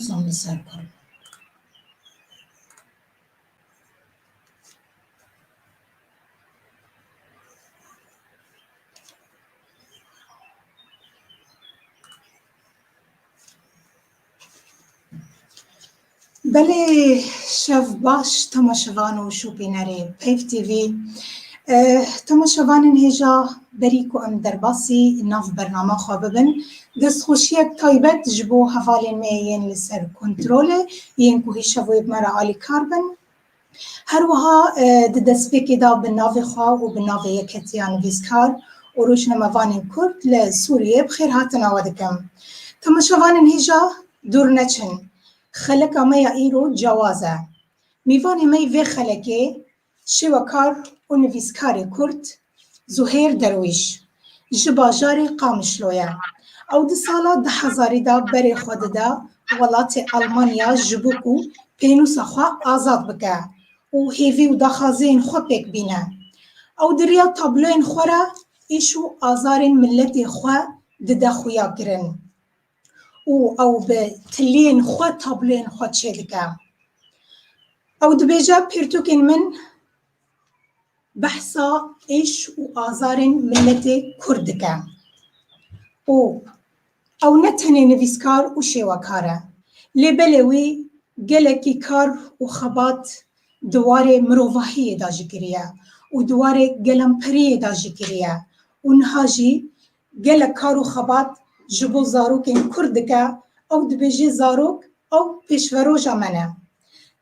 Sami Serkan. Belê şev baş temaşevan û şopînerê Peyv TV Temaşevanên hêja berî ku em derbasî nav bernama xwe bibin, destxweşiyek taybet ji bo hevalên me yên li ser kontrolê yên ku hêj şevoyê bi me re alîkar bin. Her wiha di destpêkê de bi navê xwe û bi navê Yeketiya Nivîskar û Rojnamevanên Kurd li Sûriyê bi xêrhatina we dikim. Temaşevanên hêja dûr neçin. Xeleka me ya îro cewaz e. Mîvanê me yê vê xelekê Şêwekar û nivîskarê Kurd Zuhêr Derwîş ji bajarê Qamişlo ye. Ew di sala du hezarî de berê xwe dide welatê Elmanya ji bo ku pênûsa xwe azad bike û hêvî û daxwaziyên xwe pêk bîne. Ew di riya tabloyên xwe re êş û azarên miletê xwe dide xuyakirin. û ew bi tiliyên xwe tabloyên xwe çêdike. Ew dibêje pirtûkên min behsa êş û azarên miletê Kurd dike. Û ew ne tenê nivîskar û şêwekar e, lê belê wî gelekî kar û xebat di warê mirovahiyê de jî kiriye û di warê gelemperiyê de jî kiriye û niha jî Gelek kar û xebat ji bo zarokên Kurd dike, ew dibêje zarok ew pêşveroja me ne.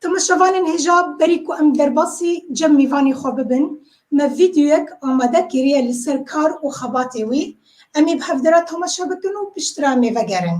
Temaşevanên hêja berî ku em derbasî cem mîvanê xwe bibin, me vîdeoyek amade kiriye li ser kar û xebatê wî, em ê bi hevdira temaşe bikin û piştre em ê vegerin.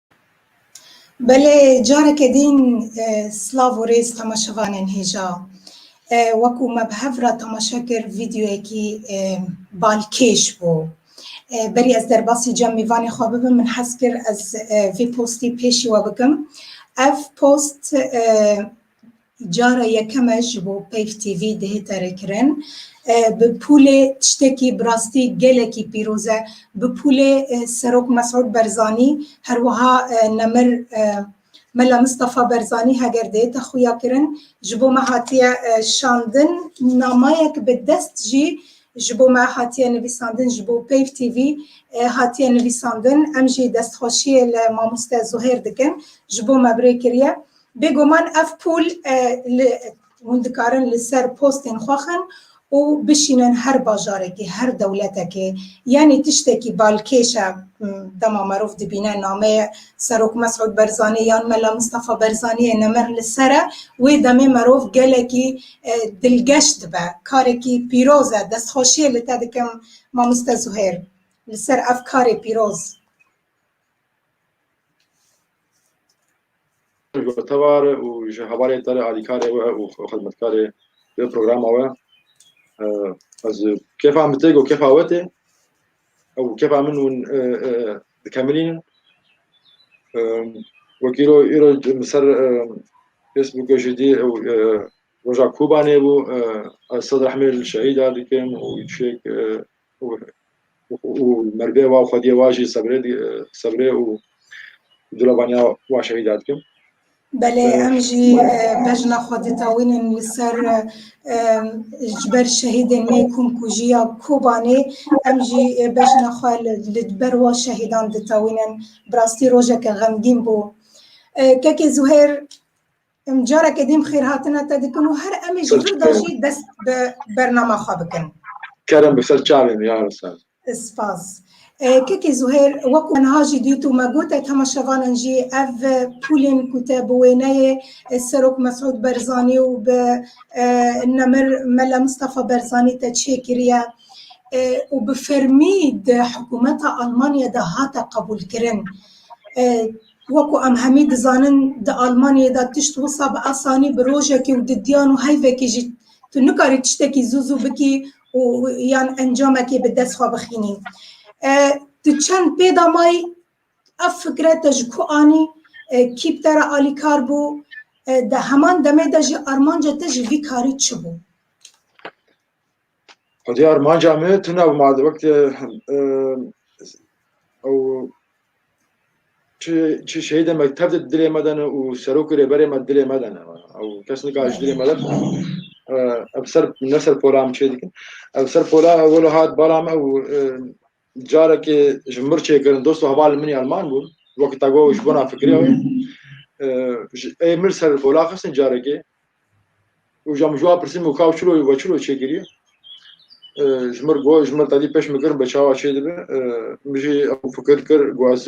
Belê careke dîn silav û rêz temaşevanên hêja. Wekû me bi hev re temaşe kir vîdyoyekî balkêş bû. Berî ez derbasî cemîvanê xwe bibim min hez kir ez vê postî pêşî we bikim. Ev post Cara yekem e ji bo Peyv TV dihête rêkirin. Bi pûlê tiştekî bi rastî gelekî pîroz e. Bi pûlê Serok Mesûd Berzanî her wiha Nemir Mela Mistefa Berzanî heger dihête xuyakirin ji bo me hatiye şandin. Namayek bi dest jî ji bo me hatiye nivîsandin ji bo Peyv TV hatiye nivîsandin. Em jî destxweşiyê li mamoste Zuhêr dikin ji bo me bi rê kiriye. Bêguman ev pûl li hûn dikarin li ser postên xwe xin û bişînin her bajarekê, her dewletekê. Yanî tiştekî balkêş e dema merov dibîne nameyê Serok Mesûd Berzanî yan Mela Mistefa Berzanîyê nemir li ser e, wê demê merov gelekî dilgeş dibe. Karekî pîroz e. Destxweşiyê li te dikim Mamoste Zuhêr li ser ev karê pîroz. Gotevar û ji hevalê te re alîkarê we û xizmetkarê vê programa we ez kêfa min tê ku kêfa we tê ew kêfa min hûn dikemilînin wek îro îro min ser Facebookê jî dî ew roja Kûbanê bû ez sed rehmê li şehîda dikim û çêk û merivê wa û xwediyê wa jî sebrê û dilevaniya wa şehîda dikim. Belê em jî bejna xwe ditewînin li ser ji ber şehîdên me komkujî ya Kobanê em jî bejna xwe li ber wan şehîdan ditewînin. Bi rastî rojeke xemgîn bû. Kekê Zuhêr. Em careke din xêrhatina te dikin û her emê ji vir de jî dest bi bernama xwe bikin. Kerem bi ser çavê min ya Rûsel. Spas. Kekê Zuhêr, wek ku niha jî dît û me got e tema şevanan jî ev pûlên ku te bi wêneyê Serok Mesûd Berzanî û bi Nemir Mele Mistefa Berzanî te çê kiriye û bi fermî di hikûmeta Almanyayê de hate qebûlkirin, Wek ku em hemî dizanin di Almanyayê de tişt wisa bi asanî bi rojekê û di diyan û heyvekê jî tu nikarî tiştekî zû zû bikî û yan encamekê bi dest xwe bixînî. Tu çend pê damayî ev fikre te ji ku anî kî bi te re alîkar bû? Di heman demê de jî armanca te ji vî karî çi bû? Xwediyar manca me tune û mad wekte ew çi şehîdê me tev di dilê me de ne û serok û rêberê me dilê me de ne ew kes nika ji dilê me de ev ser ne ser pola em çê dikin ev ser pola wilo hat bala me û Carekê ji mir çêkirin dost û hevalên min yan man bûn. Wekî te got ji bona fikirê wê. Ê mir ser pola xistin carekê. Û jam ji wan pirsîm û kaw çilo we çilo çêkiriye. Ji mir got ji mir tedî pêş min kirin be çawa çê dibe. Min jî ew fikir kir got ez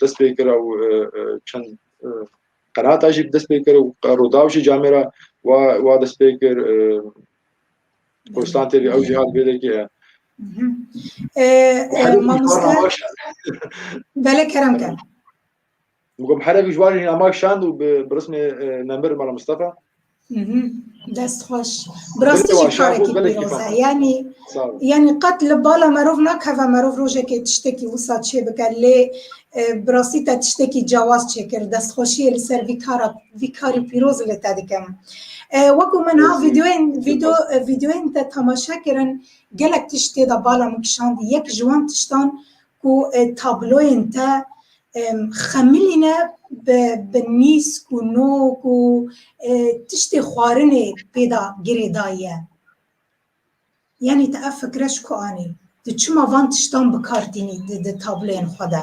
dest pê kir ew çend qenata jî dest pê kir û Rûdaw jî camê re wa wa dest pê kir Kurdistan TV ew jî hat bêdekê ye. Belê kerem ker. Gob herek ji wan jî namak şand û bi rismê nemir Mala Mustafa. Dest xweş. Bi rastî jî karekî pîroz e. Yanî yanî qet li bala merov nakeve merov rojekê tiştekî wisa çêbike lê bi rastî te tiştekî cewaz çêkir. Destxweşiyê li ser vî kara vî karî pîroz li te dikim. Wekû min ha vîdeoyên vîdeo vîdeoyên te temaşe kirin gelek tiştê de bala min kişand. Yek ji wan tiştan Ku tabloyên te xemilîne bi nîsk û nok û tiştê xwarinê pê de girê daye. Yanî te ev fikre ji ku anî? Tu çima van tiştan bi kar tînî di tabloyên xwe de?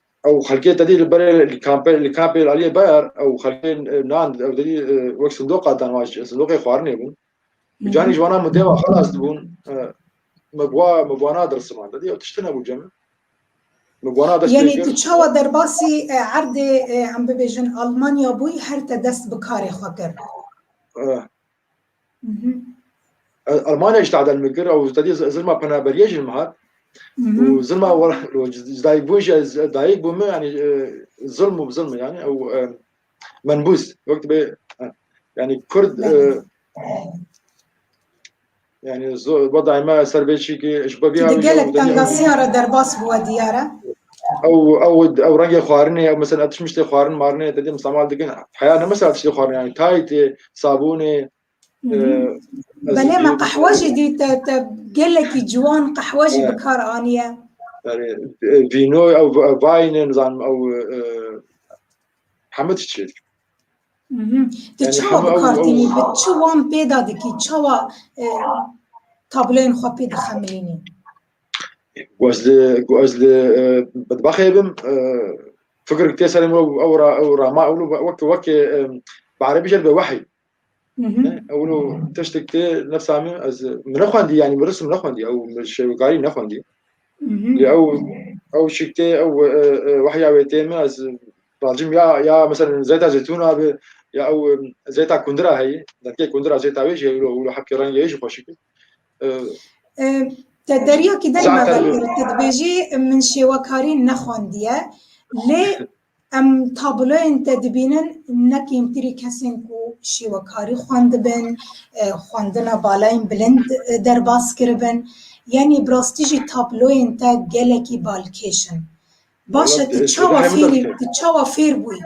ew xelkê te dî li berê li kampê li kampê li aliyê ber ew xelkê nan ew te dî wek sindoqa dan wan sindoqê xwarinê bûn canî ji wana min dêwa xelas dibûn me bi wan me bi wana dirsiman te dî ew tiştî nebû cem me bi wana dest Yanî tu çawa derbasî erdê em bibêjin Almanya bûyî her te dest bi karê xwe kir Almanya ji tadel min kir ew tedî zilma penaberiyê jin hat û zilma dayîkbûn jî ez dayîk bû min yanî zilm û zilm yanî ew menbûz wek dibê yanî kurd yanî zor va dayî me ser bê çî ki ji bebî gelek tengasiya re derbas bûwe diyare ew ew ew rengê xwarinê ew mesela tişmiştê xwarin marinê tedî misamal dikin heya ne mesela tiştê xwarin yanî taytê sabûnê Belê me qehwe jî dî te te gelekî ciwan qehwe jî bi kar aniye. Vîno ew vayne nizanim ew hemû diçe. Tu çawa bi kar tînî bi çi wan pêda dikî çawa tabloyên xwe pê dixemilînî? Ku ez li ku ez li bedbaxê bim fikir tê serê min ew ra ew ra ma ew wek wek bi erebî jê be wehî ew no tiştek tê nefsa min ez min nexwendî yanî min risim nexwendî ew şêwekarî nexwendî lê ew ew şik tê ew wehya wê tê min ez racim ya ya mesela zeyta zeytûna bi ya ew zeyta kundira heyî detkê kundira zeyta wê jî ew hepkê rengê jî xweşik Te deryakî der me ver kir. Te dibêjî min şêwekarî nexwendiye. Lê em tabloyên te dibînin ne kêmtirî kesên ku şêwekarî xwendibin, xwendina balayên bilind derbas kiribin. Yanî bi rastî jî tabloyên te gelekî balkêş in. Baş e tu çawa fêr bûyî?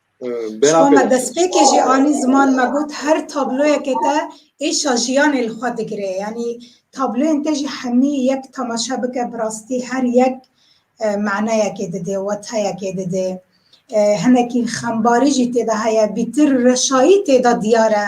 Bera me destpêkê jî anî ziman me got her tabloyekê te êşa jiyanê li xwe digire. Yanî tabloyên te jî hemî yek temaşe bike bi rastî her yek e, maneyekê dide, weteyekê dide. E, hinekî xembarî jî têde heye, bîtir reşayî têde diyar e.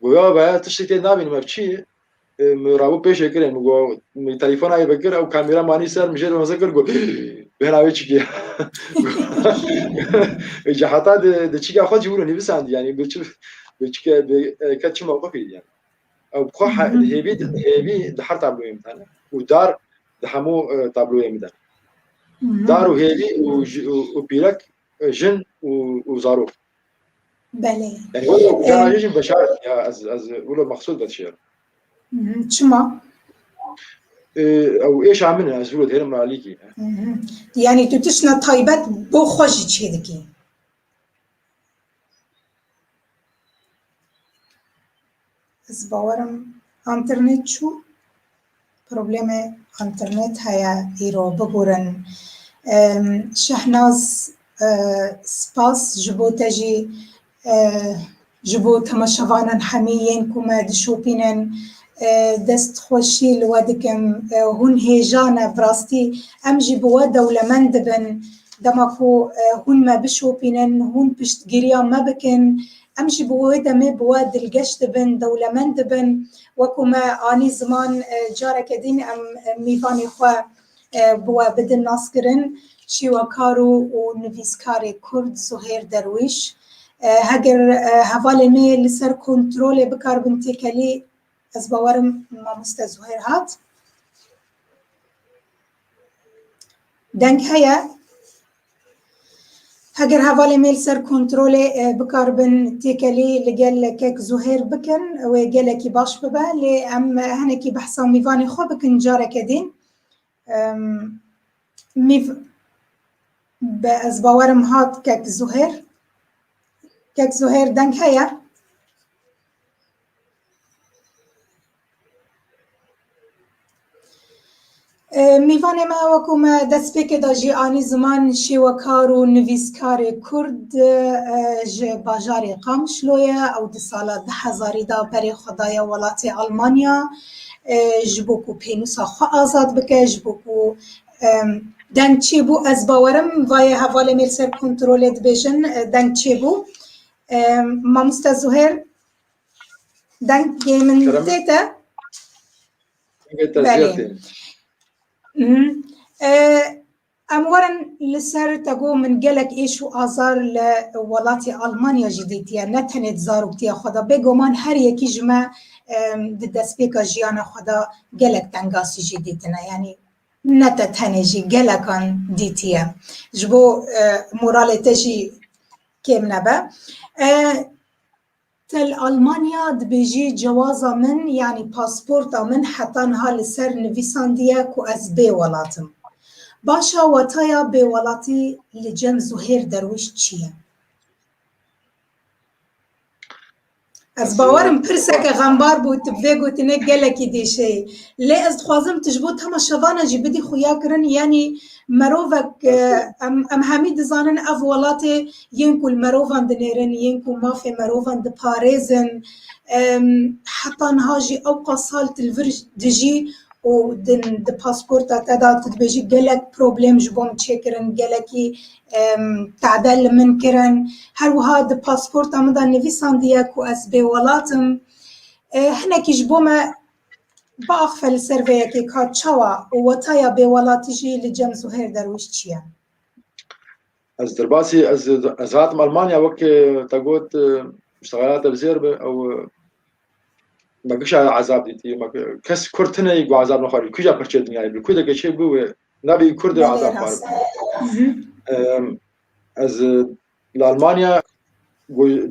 Goya be tiştê tê nabînim ev çi ye? Min rabû pêşê kirê min got min telefona yê vekir ew kamera manî ser min jê re weze kir got bêhna wê çi giya. Ji heta di di çîka xwe cî wilo nivîsandî yanî bi çi bi çike bi ke çi mewqifî yani. Ew bi xwe hêvî hêvî di her tabloyê min tane û dar di hemû tabloyê min de. Dar û hêvî û û pîrek jin û û zarok. Belê. Yani o canaje jî beşaret ya ez ez wilo maqsud bet şiya. Çima? Ew êşa min e ez wilo dêrim alîkî. Yani tu tişna taybet bo xwe jî çê dikî. Ez bawer im enternet çû. Probleme enternet heye îro bigurin. Şehnaz spas ji bo te jî ji bo temaşevanan hemî yên ku me dişopînin dest xweşî li we dikim. Hûn hêja ne bi rastî em jî bi we dewlemend dibin. Dema ku hûn me bişopînin, hûn piştgiriya me bikin, Em jî bi wê demê bi we dilgeş dibin, dewlemend dibin. Wekû me anî ziman careke dîn em mîvanê xwe bi we bidin naskirin. Şîwekar û nivîskarê Kurd Zuhêr Derwîş, Heger hevalê me li ser kontrolê bikar bin têkelî, ez bawerim mamoste Zuhêr hat. Deng heye heger hevalê mêl ser kontrolê e, bikaribin têkelî li gel kek Zuhêr bikin wê gelekî baş bibe lê em henekî behsa mîvanê xwe bikin careke din mîv be ez bawerim hat kek Zuhêr kek Zuhêr deng heye Mêvanê me wekû me destpêkê de jî anî ziman şêwekar û nivîskarê Kurd ji bajarê Qamişlo ye. Ew di sala du hezarî de berê xwe daye welatê Elmanya ji bo ku pênûsa xwe azad bike, ji bo ku deng çêbû ez bawer im vayê hevalê me li ser kontrolê dibêjin deng çêbû. Mamoste Zuhêr. Dengê min zêt e? Belê. Em werin li ser te got min gelek êş û azar li welatê Almanya jî dîtiye ne tenê di zaroktiya xwe de bêguman her yekî ji me di destpêka jiyana xwe de gelek tengasî jî dîtine yanî ne te tenê jî gelekan dîtiye ji bo moralê te jî kêm nebe. Tel Almanya dibêjî cewaza min yanî pasporta min heta niha li ser nivîsandiye ku ez bê welat im. Başa wataya bê welatî li cem Zuhêr Derwiş çi ye? Ez bawer im pirseke xembar bû tu bi vê gotinê gelekî dêşeyî. Lê ez dixwazim tu ji bo tema şevanan jî bidî xuyakirin yanî merovek em em hemî dizanin ev welatê yên ku li merovan dinêrin, yên ku mafê merovan diparêzin heta niha jî ewqas sal tu li vir dijî û di pasporta te de tu dibêjî gelek problem ji bo min çêkirin, gelekî tade li min kirin. Her wiha di pasporta min de nivîsandiye ku ez bêwelat im. Hinekî ji bo me biaxife li ser vê yekê ka çawa û wetaya bêwelatî jî li cem Zuhêr Derwîş çi ye? Ez derbasî ez ez hatim Almanya wek te got muştegelata zêr bi ew me kişa ezab dîtî me kes kurd tine ku ezab nexwarî kuja pirçe dinyayê bi kurdeke çê bû wê nabî kurd ezab xwar ez li Almanya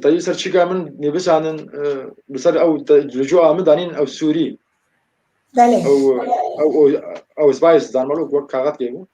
tayî ser çîka min nêbisanin bi ser ew li cû min danîn ew Sûrî ew ew ew spayis danmalo wek kaxet kêbû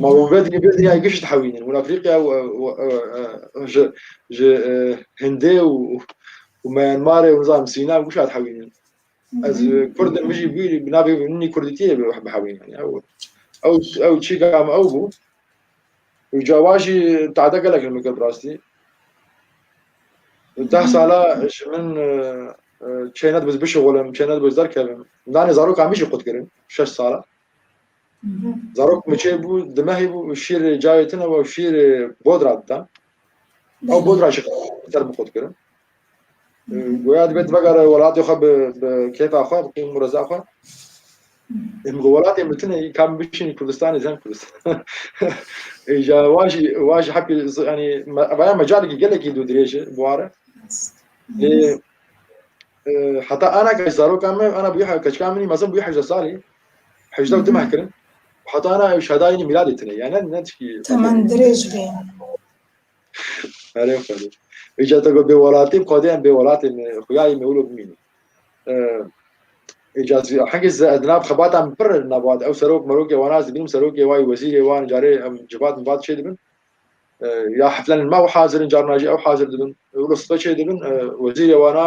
Ma wan vê dinê vê dinyayê giş dihewînin. Wina Afrîqya û ji ji Hindê û û Myanmarê û nizanim Sîna û gişa dihewînin. Ez Kurd im jî bîrî bi navê nî Kurdîtiyê bihewînin. Ew ew ew çîka me ew bû. Û cava jî tade gelek li min kir bi rastî. Deh sala ji min çêne dibiz bişixulim, çêne dibiz derkevim. Danê zarokan min jî qut kirin şeş sala. Zarok miçê bû, dimehê bû û şîr cayê tune û şîr bodra didan. Ew bodra jî ser bi xwe dikirin. Goya dibe divegare welatê xwe bi bi kêfa xwe, bi qîm û reza xwe. Em ku welatê min tune î kam biçin Kurdistanê zem Kurdistan. Îja wan jî wan jî hepî yanî vaya mecalekî gelekî dû dirêj e bi ware. Lê heta ana ke zaroka me ana bûye keçika min mezin bûye hejde salî. Hejda û dimeh kirin û heta ana ew şadayenî mîradê tune yani ne tişkî Temen dirêj bê. Erê xwedê. Îca te got bêwelatî xwedêyan bêwelatê me xuyayê me wilo bimîne. Îca zî hengê ze di nav xebatan pir in nava de ew serok merokê wan ez dibînim serokê wan wezîrê wan carê em civat mivat çê dibin. Ya heflenên me ew hazir in carna jî ew hazir dibin. Wilo sibe çê dibin wezîrê wana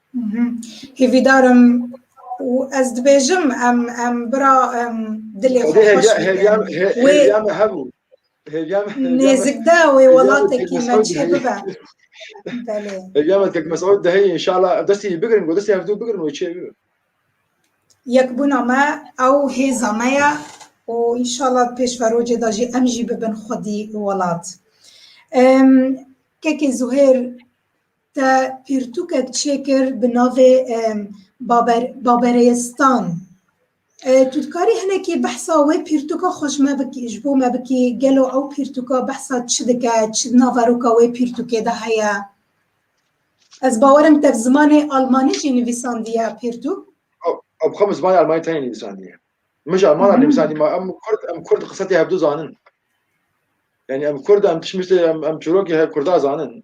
Hêvîdar im û ez dibêjim em em bira em dilê xwe xweş bidin. Nêzikde wê welatekî me çê bibe. Belê. Hêvîyame tek Mesûd deheyî inşallah destî bigirin ku destî hevdû bigirin wê çê bibe. Yekbûna me ew hêza me ye û inşallah pêşverocê de jî em jî bibin xwedî welat. Kekê Zuhêr Te pirtûkek çêkir bi navê Babereistan. Tu dikarî hinekî behsa wê pirtûka xwe ji me bikî ji bo me bikî gelo ew pirtûka behsa çi dike, çi di naveroka wê pirtûkê de heye? Ez bawer im te bi zimanê almanî jî nivîsandiye pirtûk. Ew xwe bi zimanê almanî tenê nivîsandiye. Min ji almanan nivîsandî ma em kurd em kurd qise tê hevdu zanin. Yani em kurd em tişt miştê em em çîrokê kurda zanin.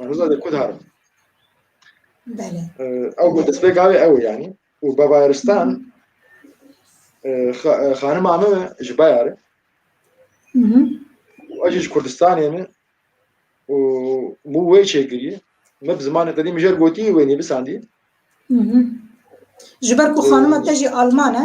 Roza de kudar. Bele. Ew bu destpêk avê ew yani. Û Bavaristan xanima me ji bayar e. Ew ji Kurdistanê me û mû wê çêkiriye. Me bi zimanê qedî mijer gotî wê nîvisandî. Ji ber ku xanima te jî alman e.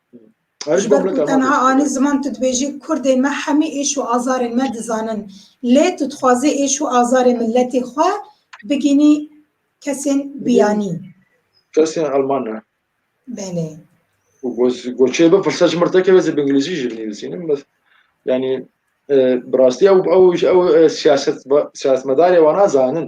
Ji ber ku tenha anî ziman tu dibêjî Kurdên me hemî êş û azarên me dizanin. Lê tu dixwazî êş û azarê miletê xwe bigînî kesên biyanî. Kesên Elman ne. Belê. Û goçê bipirse ji mir tekeve zê bi îngilîzî jî binivîsînim. Bes yanî e, bi rastî ew ew ew e, siyaset siyasetmedarê wan a zanin.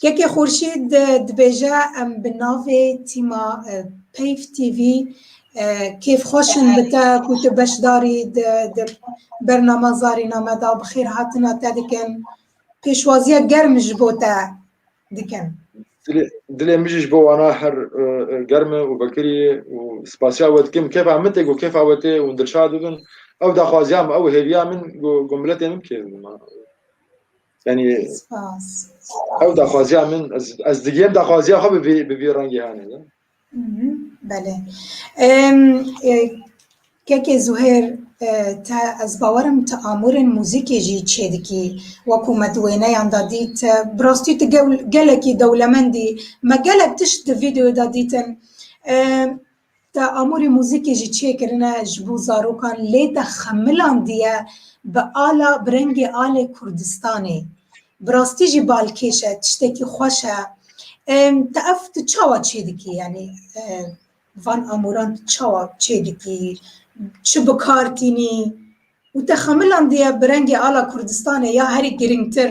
Keke Xurşîd dibêje em bi navê tîma Peyv TV kêf xweş in bi te ku tu beşdarî di di bernama zarîname de bi xêr hatina te dikin. Pêşwaziya germ ji bo te dikin. Dilê dilê min jî ji bo wana her e, e, germ e û vekirî ye û spasiya we dikim. Kêfa min tê ku kêfa we tê hûn dilşad bibin. Ew daxwaziya min, ew hêviya min ku ku miletê min bi kêf bibin. Yani ew daxwaziya min ez digiyem daxwaziya xwe bi vî rengê hane de. Belê. Kekê Zuhêr te ez bawerim tu amûrên muzîkê jî çêdikî wekû me di wêneyan de dît bi rastî tu gelekî dewlemendî me gelek tişt di vîdeoda dîtin. Te amûrê muzîkê jî çêkirine ji bo zarokan lê te xemilandiye bi ala bi rengê alê Kurdistanê. Bi rastî jî balkêş e, tiştekî xweş e. Te ev tu çawa çê dikî yanî van amûran tu çawa çê dikî? Çi bi kar tînî? Û te xemilandiye bi rengê ala Kurdistanê ya herî girîngtir.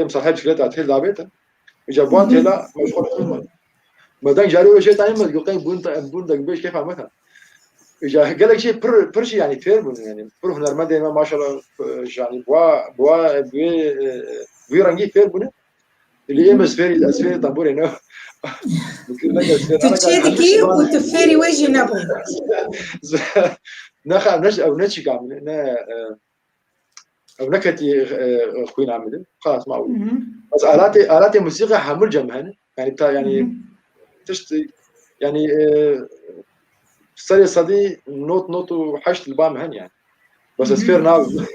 Em sa her çileta têl davêtin. Îca buan têla meşxul Medan carê wê jê tayên me goqey bûn bûn dek bêj kêfa me Îca gelek jê pir pir jî yanî fêr bûn yanî pir hunermendên me maşallah janî bua bua wê wî rengî fêr bûne. Li êm ez fêrî ez fêrî tamborê ne Türkçe dikî û tu fêrî wê jî nebû. Nexa ne ew ne çîka ne ew neketî xwîna min qas ma ez alatê alatê musîqa hemû cem hene yani ta yani tişt yani serê sedî not not û heşt li ba min hen yani bes ez fêr nabim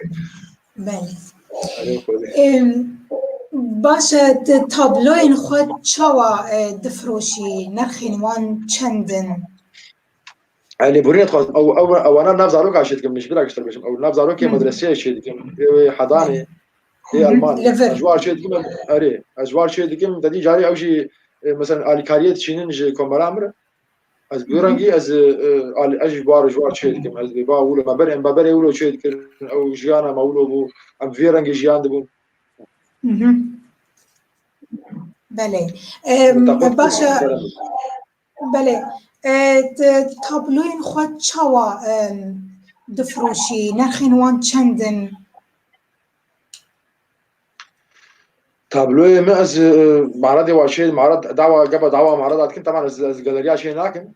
Baş e tu tabloyên xwe çawa difroşî nirxên wan çend in Elê burî dixwazim ew ew ewana nav zarokan şê dikim ji bira giştir bêjim ew nav zarokê medreseyê şê dikim wê hedanê ê elman ez war şê dikim erê ez war şê dikim dedî carê ew jî mesela alîkariyê diçînin ji komera min ez bi rengî ez ez ji war ji war şê dikim ez bê ba wilo me berê em berê wilo şê dikim ew jiyana me wilo bû em vê rengê jiyan dibûn Belê. Başa Belê tu tabloyên xwe çawa difiroşî? Nerxên wan çend in? Tabloyê min ez maradê wa şê marad dawa geba dawa marad atkin teman ez ez galeriya şê nakin.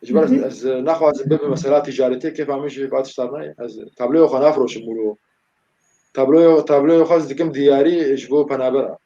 Ji ber ez naxwazim bibe mesela ticaretê kêfa min jî bat ştar nayê. Ez tabloyê xwe nafiroşim mûro. Tabloyê tabloyê xwe ez dikim diyarî ji bo penabera.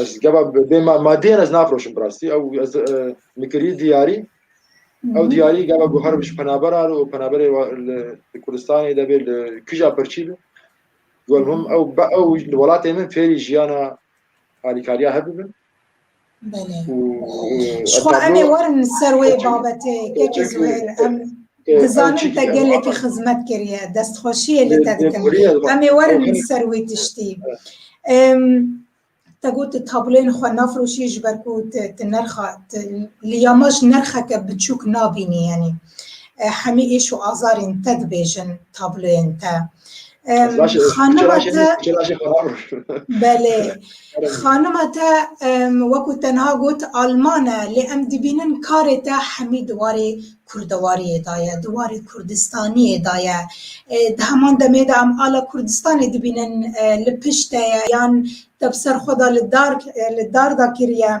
ez geba bê madiyên ez nafiroşim birastî ew ez nikirî diyarî ew diyarî geba guher bi ji penaber ar û penaberê li Kurdistanê de bê li kija pirçî bi got hûm ew be ew li welatê min fêrî jiyana alîkariya hebibin Belê. Ji xwe em ê werin ser wê babetê kekê Zuhêr em dizanin te gelekî xizmet kiriye destxweşiyê li te dikim em ê werin ser wê tiştî. Te got tu tabloyên xwe nafroşî ji ber ku tu nirxa li ya me ji nirxeke biçûk nabînî yenî. hemî êş û azarên te dibêjin tabloyên te. Xanima te belê xanima te wekû tenha got Alman e lê em dibînin karê te hemî di warê kurdewariyê da ye, di warê kurdistaniyê da ye. Di heman demê de em ala Kurdistanê dibînin li pişt te ye yan te bi ser xwe da li dar li dar da kiriye.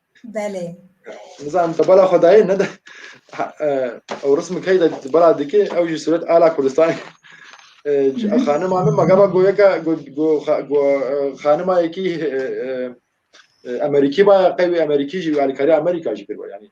Belê. Nizam di bala xwedayê ne de ew rism key de di bala dikê ew jî suret ala Kurdistanê. Xanima min magaba goyeka xanima yekî Emerîkî baya qey wî Emerîkî jî alîkarî Amerîka jî kir yani.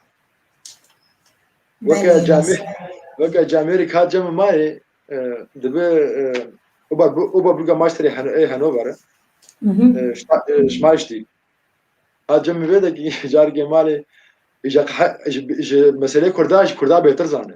Weke camê weke camê rê kat cemê mayê dibi oba oba buga maçterê ê Hanover şmaştî. Ha cemê vê de ki cargê malê ji meselê kurda ji kurda bêtir zane.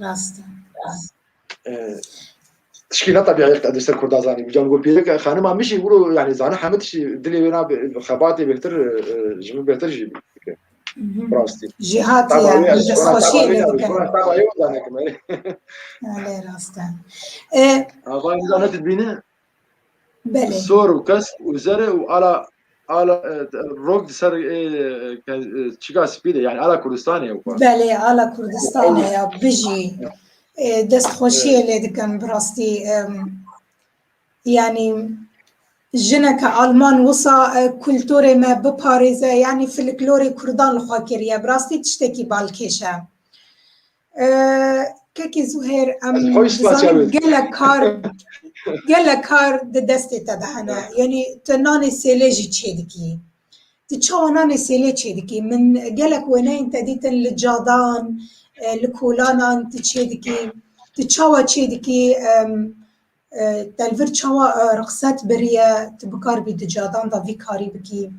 Rast e. Tişkî ne tabiye yek edê ser Kurda zanî. Mican got pêrek xanima min jî wilo yani zana heme tiştî dilê wê na xebatê bêhtir ji min bêhtir jî bike. Rastî. Jî hatiye destxweşiyê lê dike. Lê rast e. Ava ne dibîne Belê. Sor û kesk û zer e û ala ala e, rok di ser e, ke- e, çika spî de yani ala Kurdistanê ew xwe. Belê ala Kurdistanê ya bijî. E, Dest xweşiyê lê dikim bi rastî. em, Yanî jineke Alman wisa e, kulturê me biparêze yanî filiklorê Kurdan li xwe kiriye. Bi rastî tiştekî balkêş e. Kekê Zuhêr em dizanin gelek kar gelek kar di destê te de hene. Yanî tu nanê sêlê jî çê dikî. Tu çawa nanê sêlê çê dikî? Min gelek wêneyên te dîtin li cadan, li kolanan tu çê dikî. Tu çawa çê dikî? Telvir çawa rixset biriye tu bikar bî di cadan da vî karî bikî?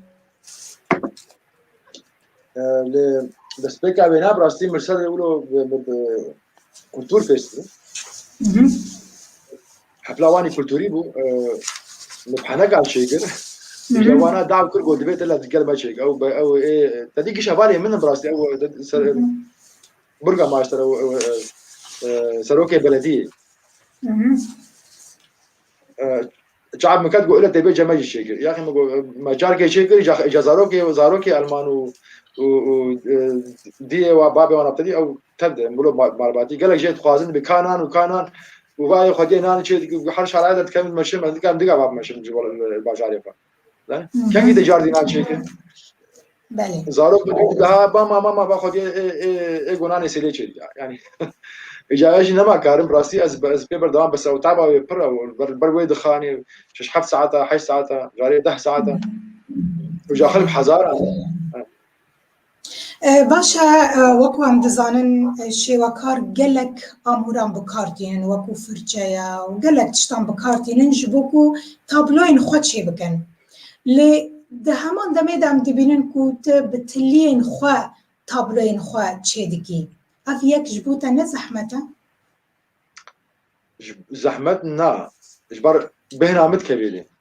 Li destpêka wê ne bi rastî Mirsedê wilo kultur pêş bû. Hepla wanî kulturî bû li penekan çêkir. Îja wana dav kir got divê te li gel me çêke. Ew ew ê te dî kişa valê min bi rastî ew Burga maaş sero serokê belediyê. Çab miket go ile têbê ceme jî çêkir. Yaxê min go me carkê çêkir ca zarokê zarokê elman û û û diyê wa babê wan aptedî ew tev de mulo malbatî gelek jê dixwazin bi kanan û kanan û vayê xwediyê nanê çê her şaraya de dikevin meşin me dikan diga bab meşin ji bajarê xwe. Kengî de jardîna çêke. Zarok ha ba mama ma ba xwedî ê gonanê sêlê çêk ya. Yani îcaya jî nema karim rastî ez ez pê berdewam bes ew taba wê pir ew ber wê dixanê şeş heft saeta heşt saeta carê deh saeta û ja xelk hezaran Baş e, wekû em dizanin şêwekar gelek amûran bi kar tînin wekû firçeya û gelek tiştan bi kar tînin ji bo ku tabloyên xwe çê bikin. Lê di heman demê de em dibînin ku tu bi tiliyên xwe tabloyên xwe çê dikî. Ev yek ji bo te ne zehmet e? Zehmet na. Ji ber bêhna min dikevî lê.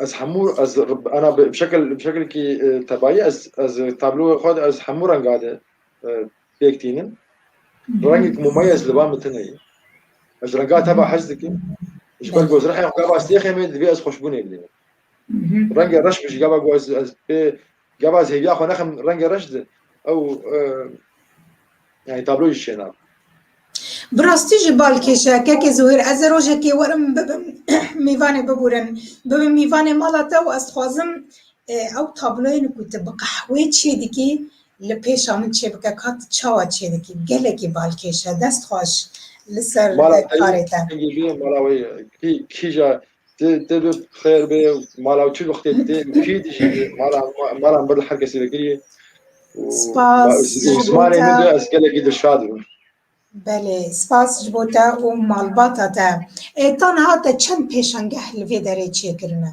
Ez hemû ez ana bi şekil bi şekilkî tebayî ez ez tabloya xwe ez hemû renga de pêk tînim. Rengek mumayez li ba min tune ye. Ez renga teba hez dikim. Ji ber ku ez rehya xwe gava sêxê me divê ez xweşbûnê bidînim. Rengê reş bi jî gava ku ez ez pê Gava zêbiya xwe nexim rengê reş di ew yani tabloyê jî çêna. Bi rastî jî bal kêşe kekê Zuhêr ez ê rojekê werim bibim mîvanê bibûrin. Bibim mîvanê mala te û ez dixwazim e, ew tabloyên ku tu bi qehwê çê dikî li pêşa min çêbike ka tu çawa çê dikî. Gelekî bal kêşe. Dest xweş li ser karê te. Mala te yê mala wê kîja Tê tê bi xêr bê mala ew çi vextê tê kî dijî mala mala ber li her kesî vekirî Spas ji bo zimanê min de te. ez gelekî dilşad bûm. Belê, spas ji bo te û malbata te. E, ta niha te çend pêşangeh li vê derê çêkirine?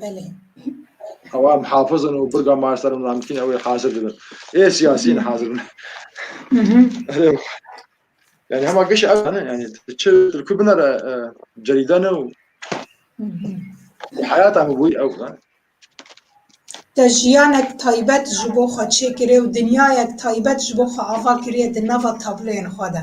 Belê. Hewa em hafizin û birga master û namkîn ew ê hazir bibin. Ê siyasîn hazir bin. Yani hema giş ev ne yani çi tilku binere cerîda ne û hayata mı bûy ew ne. Te jiyanek taybet ji bo xwe çêkirê û dinyayek taybet ji bo xwe ava kiriye di nava tabloyên xwe de.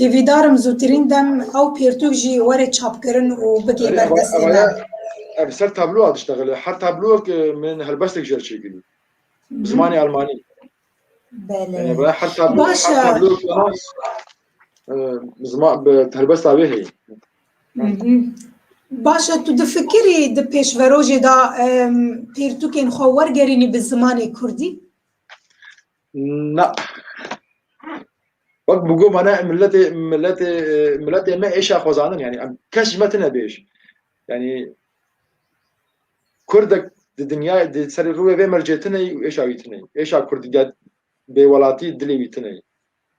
Hêvîdarim zûtirîn dem ew pêrtûk jî were çapkirin û bigê ber destê me. Ev ser tabloa diştexile. Her tabloyek min helbestek jer çêkirî. Bi zimanê Elmanî. Belê. Her tabloyek bi helbesta wê heye. Baş e tu difikirî di pêşverojê de pêrtûkên xwe wergerînî bi zimanê Kurdî? Na. Wek bu goma ne milletê milletê milletê me êşa xwezanin yani em kes ji me tine bêj. Yani Kurdek di dinya di serê rûvê vê mercê tine êşa wî tine. Êşa Kurdî bêwelatî dilê wî tine.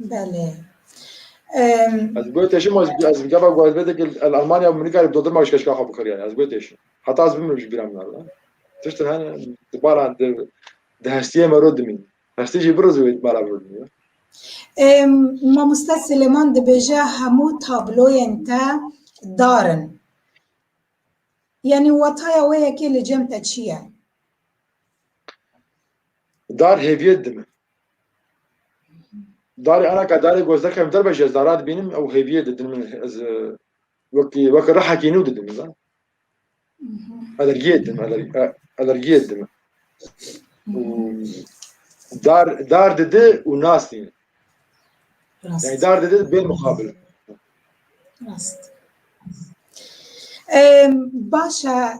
Belê. Ez goyê teşî ma ez gava guazbêdek el Almanya û Mûnîka li dodirma wişkeşka xwe bikir yani ez goyê teşî. Heta ez bimrim ji bîra min arda. Tiştin hene di baran di di hestiyê me ro dimîn. Hestî jî biriz wê mala bi dimîn. Mamoste Silêman dibêje hemû tabloyên te dar in. Yanî wataya wê yekê li cem te çi ye? Dar hêviyet dime. Darê Elaka darê gozdek em derbe ji ez dara dibînim ew hêviyê didin min ez wekî wek rehekî nû didin min zan. Alergiyê didim alergiyê didim. Dar dar didi û nas nîn. Yani dar didi bê muqabil. Rast. Başa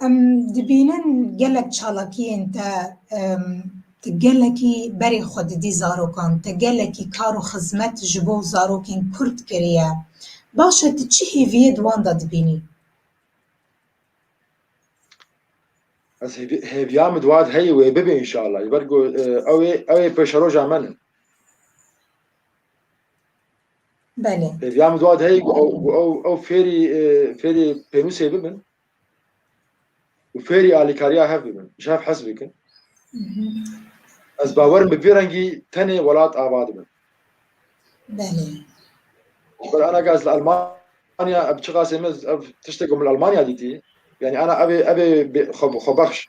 Em dibînin gelek çalakiyên te tu gelekî berê xwe didî zarokan, te gelekî kar û xizmet ji bo zarokên Kurd kiriye. Baş e tu çi hêviyê di wan de dibînî? Ez hêviya min di wan de heye wê bibe înşallah. Ji ber ku ew ê ew ê pêşeroja min in. Belê. Vêya min dua heye ew fêrî fêrî pênûsê bibin û fêrî alîkariya hev bibin ji hev hez bikin. Ez bawerim bi vê rengî tenê welat ava dibin. Belê. Ber ana gaz li Almanya ev çiqasê min ev tiştek min Almanya dîtî. Yani ana evê evê xwebexş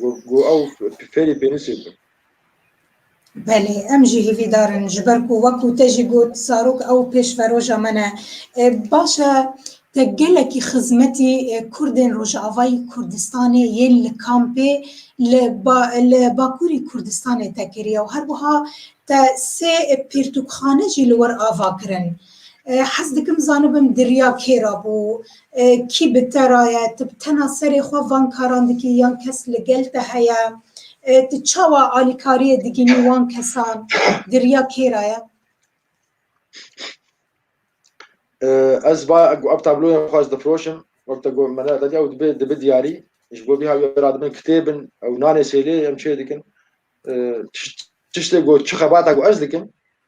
Got, Got ew fêrî pênûsê bû. Belê, em jî hîvîdar in, ji ber ku wek û te jî got zarok ew pêşveroja me ne. Baş e te gelekî xizmetî kurdên Rojavayî Kurdistanê yên li kampê li li Bakurî Kurdistanê te kiriye û herwiha te sê pirtûkxane jî li wir ava kirin. Hez dikim zanibim diriya kê ra bû, kî bi te ra ye, tu bi tena serê xwe van karan dikî yan kes li gel te heye, tu çawa alîkariyê digînî wan kesan, diriya kê ra ye? Ez va ev tabloya xwe ez difiroşim, wek te got me ne vediya û dibe dibe diyarî, ji bo vî ha wê ra dibin kitêbin ew nanê sêlê em çê dikin, tiştê got çi xebata ku ez dikim,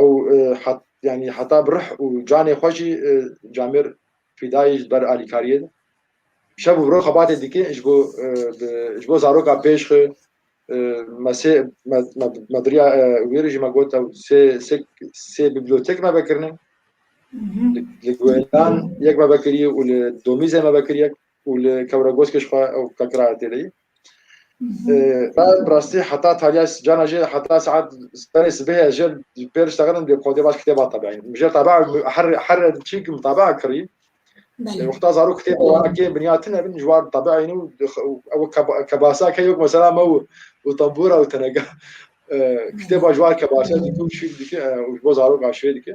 Ew yanî heta bi rih û canê xwe jî camêr fîdayî ji ber alîkariyê de. Şev û roj xebatê dike ji bo ji bo zaroka pêş xwe me sê me biriya wê re jî me got ew sê sê sê biblîyotek me vekirine. Li Guêlan yek me vekirî û li Domîzê me vekirî yek û li Kewregoskê jixwe ew vekiraya têdeyî. Ben bi rastî heta tariya cana jê heta saet serê sibihê jê pêr diştexinim dê kodê baş kitêba tebeyîn. Min jê teba her her çî kim teba kirî. Wexta zarok kitêba wana kê binya tine bin ji wan tebeyîn û ew kebasa ke yok mesela me û û tembûra û teneka kitêba ji wan kebasa dike û şîr dike û ji bo zaroka şîrê dike.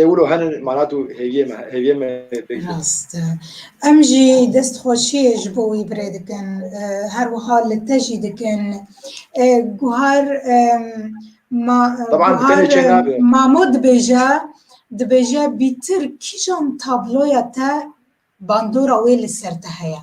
Ê wilo hene mana tu hêviyê me hêviyê me pêk bî. Rast e. Em jî destxweşiyê ji bo wî birê dikin. E, Her wiha li te jî dikin. E, Guhar em, ma, Taban bi tenê çê nabe. Guhar Mamo dibêje dibêje bîtir kîjan tabloya te bandora wê li ser te heye?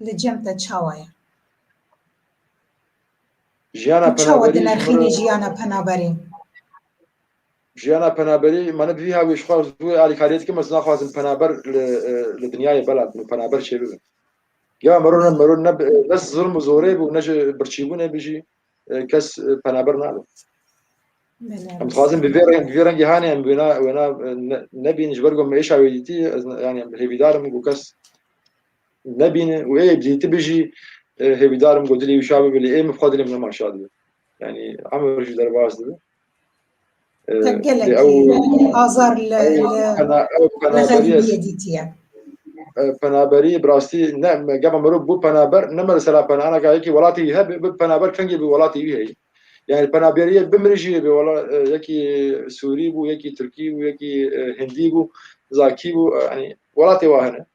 Li cem te çawa ye? Jiyana Tu çawa penaberî ji min dinerxînî re jiyana penaberî? jiyana penaberî ma ne bi vî hawî ji xwe zû wê alîkariyê dikim ez naxwazim penaber li li dinyayê bela bin û penaber çê bibin. Ya mero ne mero ne bi- ne zilm û zorê bû ne ji birçîbûnê bi jî e, kes e, penaber nabe. Belê Em dixwazin bi vê reng bi vê rengî hanê em wêna wêna e, ne- nebîn ji ber ku em êşa wê dîtî ez ne- yanî em hêvîdar im ku kes nebîne û ê bidî tu bijî hêvîdar im ku dilê wî şa bibe lê ê min bi xwe dilê min hema şa dibe yanî hemer jî derbas dibe penaberî bi rastî ne gema mirov bû penaber ne me li sera penana ka yekî welatî wî hebe bi penaber kengê bi welatî wî heye yani penaberiyê bi min jî hebe wala yekî Sûrî bû yekî Tirkî bû yekî Hindî bû Zakî bû yani welatê wa hene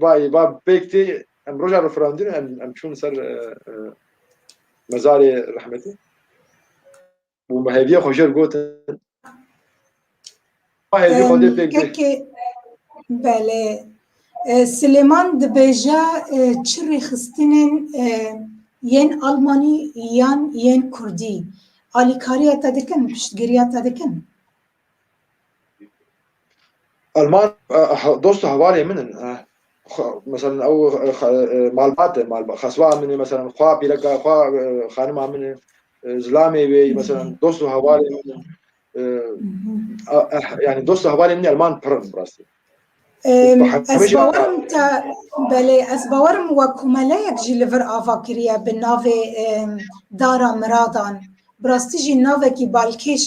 Bayê ba pêk tê em roja referandîn em em çûn ser mezarê rehmetî û me hêviya xwe jêr gotin hêvî xwe dê pêk dê belê Silêman dibêje çi rêxistinên yên Almanî yan yên Kurdî alîkariya te dikin piştgiriya te dikin Alman dost û hevalên min in. Meselen ew malbat e, xesba min e, meselen xwa pîreka xwa xanima min e, zilamê wê meselen dost û hevalên min in. Yani dost û hevalên min Alman pir in bi rastî. Ez bawerim te belê ez bawerim we komeleyek jî li vir ava kiriye bi navê dara miradan bi rastî jî navekî balkêş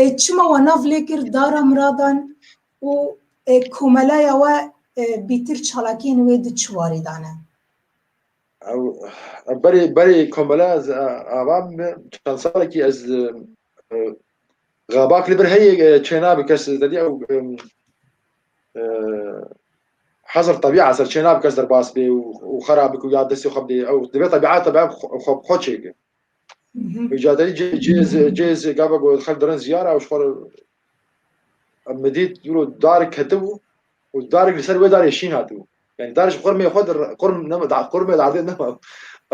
e çima we nav lê kir dara miradan û komelaya we bîtir çalakiyên wê di çi warî dane berê berê komelaya ava çend salekî ez Xabak li bir heyê çênabi kes derî ew hezir tebîa ser çênabi kes derbas bê û xera bik û ya destê xwe bidê ew divê tebîata be xwe bi xwe çêke. Îca derî cêz cêz gava got xel dirin ziyara ew ji xwe em dît dûro darik ketibû û darik li ser wê darê şîn hatibû. Yani dar ji qurmê xwe dir qurm qurmê di erdê nema.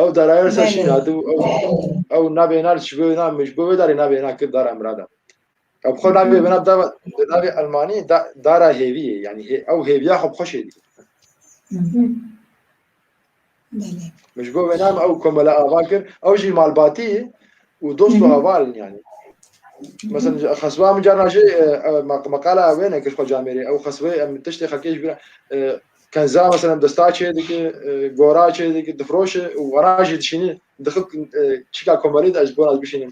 Ew darayê ser şîn hatî û ew ew navê na ji bo na ji bo wê darê navê na kir dara Mirada. Ew bi xwe navê vena da di navê Elmanî da dara hêviyê yanî ew hêviya xwe bi xwe şêdî. Min ji bo wê name ew komele ava kir ew jî malbatî û dost û havalin yanî. Mesela xesba min carna jî meqala wê nekir xwe camêrê ew xesbê em tiştê xelkê ji bîra kenza mesela desta çê dike gora çê dike difroşe û wera jî dişînî dixik çîka komelî de ez ji bo ez bişînim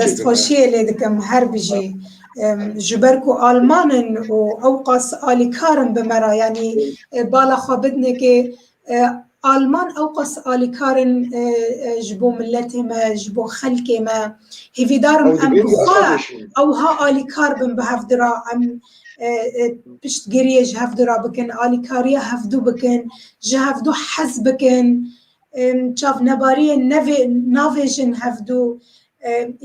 Destxweşiyê lê dikim her bijî. Ji ber ku alman in û ew qas alîkar in bi me re yanî bala xwe bidinekê alman ew qas alîkar in ji bo miletê me ji bo xelkê me hêvîdar in em bi xwe ewha alîkar bin bi hevdû re em piştgiriyê ji hevdû re bikin alîkariya hevdû bikin ji hevdû hez bikin. Çavnebariyên nevê navê jin hevdû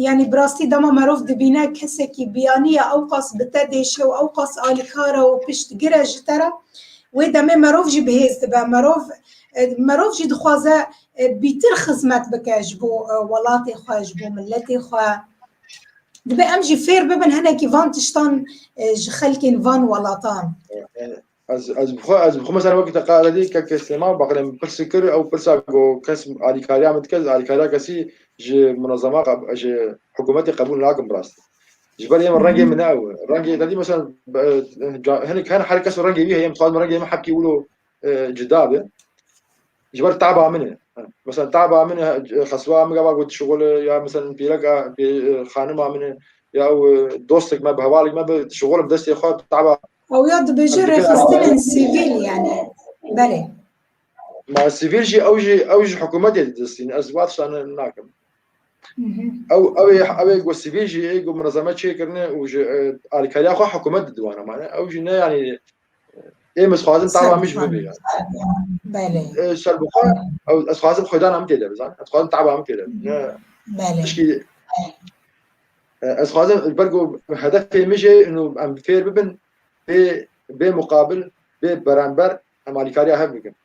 yanî bi rastî dema merov dibîne kesekî biyaniya ewqas bi te dêşe û ewqas alîkare û piştgire ji te re wê demê merov jî bihêz dibe merov merov jî dixwaze bîtir xizmet bike ji bo welatê xwe ji bo miletê xwe dibe em jî fêr bibin hinekî van tiştan ji xelkên van welatan Ez ez bixwe ez bixwe mesela wekî te qala dî ke kesema baqlê min pirsî kir ew pirsa go kes alîkariya min dike ez alîkariya kesî ji munezema ji hikûmetê qebûl nakim bi rastî. Ji ber êm rengê min ne ew e. Rengê te dî mesela hinek hene her kes û rengê wî heye em dixwazim rengê min hepkî wilo cida be. Ji ber taba min e. Mesela taba min xeswa min gava got şixol ya mesela pîreka xanima min e ya ew dostek me bi hevalek me bi şixolim destê xwe taba Ew ya dibêje rêxistinên sivîl yani berê. Ma sivîl jî ew jî ew ji hikûmetê didistîn ez vat şan nakim. Ew ew ew got sivîl jî ê got mirazame çêkirine û ji alkariya xwe hikûmet didiwana mane ew jî ne yanî êm ez xwazim tava min ji min bê yani. Serbixwe ew ez xwazim xwedana min têde bizan ez xwazim tava min têde ne tişkî Ez dixwazim ji ber ku hedefê min jî hîn û em fêr bibin bê bê muqabil bê berember em alîkariya hev bikin.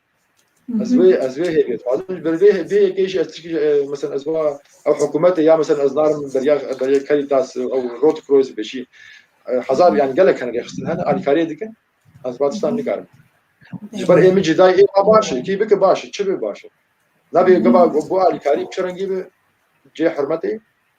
Ez wê ez wê hêvî dixwazim ji ber vê vê yekê jî ez tişkî mesela ez va ew hikûmetê ya mesela ez narim beriya beriya Caritas ew Rot Kroyz bêjî hezar yan gelek hene rêxistin hene alîkariyê dikin ez va tiştan nikarim. Ji ber ê min jî dayê ê baş e kî bike baş e çi bê baş e. Nabê gava bo alîkarî çi rengî bi cê hurmetê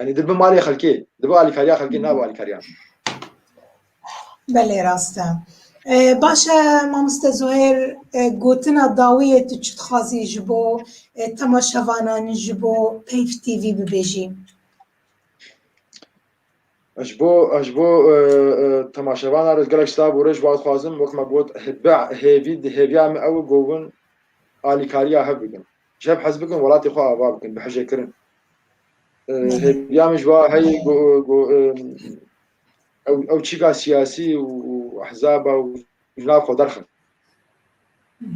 Yanî dibi malê xelkê, dibi alîkariya xelkê nabe alîkariya min. Belê rast e. Baş e mamoste Zuhêr gotina dawî yê tu çi dixwazî ji bo temaşevanan ji bo Peyv TV bibêjî? Ez ji bo ez ji bo temaşevana re gelek silav û rêj bar dixwazim wek me got hêviya me ew govin alîkariya hev bikin. Ji hev hez bikin welatê xwe ava bikin bi hije kirin. Hêviya min ji wa heyê ew çîka siyasî û ehzaba û ji nav xwe derxin.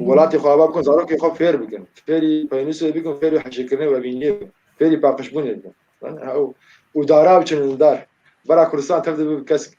Welatê xwe ava bikin zarokê xwe fêr bikin. Fêrî peynûsê bikin, fêrî hijêkirinê û evîniyê bikin. Fêrî paqijbûnê bikin. Û dara biçin dar. Bara Kurdistan tev dibe bi kesk.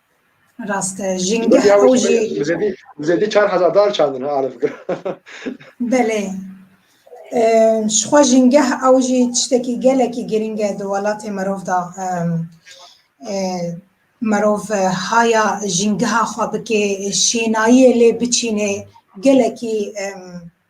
Raste. Jingeh Zedî ew jî bi bi zedî bi zedî çar hezar dar çandin ha alif gir. belê. Em, Ji xwe jingeh ew jî tiştekî gelekî girîng e di welatê mirov da. Em, e, Mirov e, haya jîngeha xwe bike, şênayiyê lê biçînê gelekî em,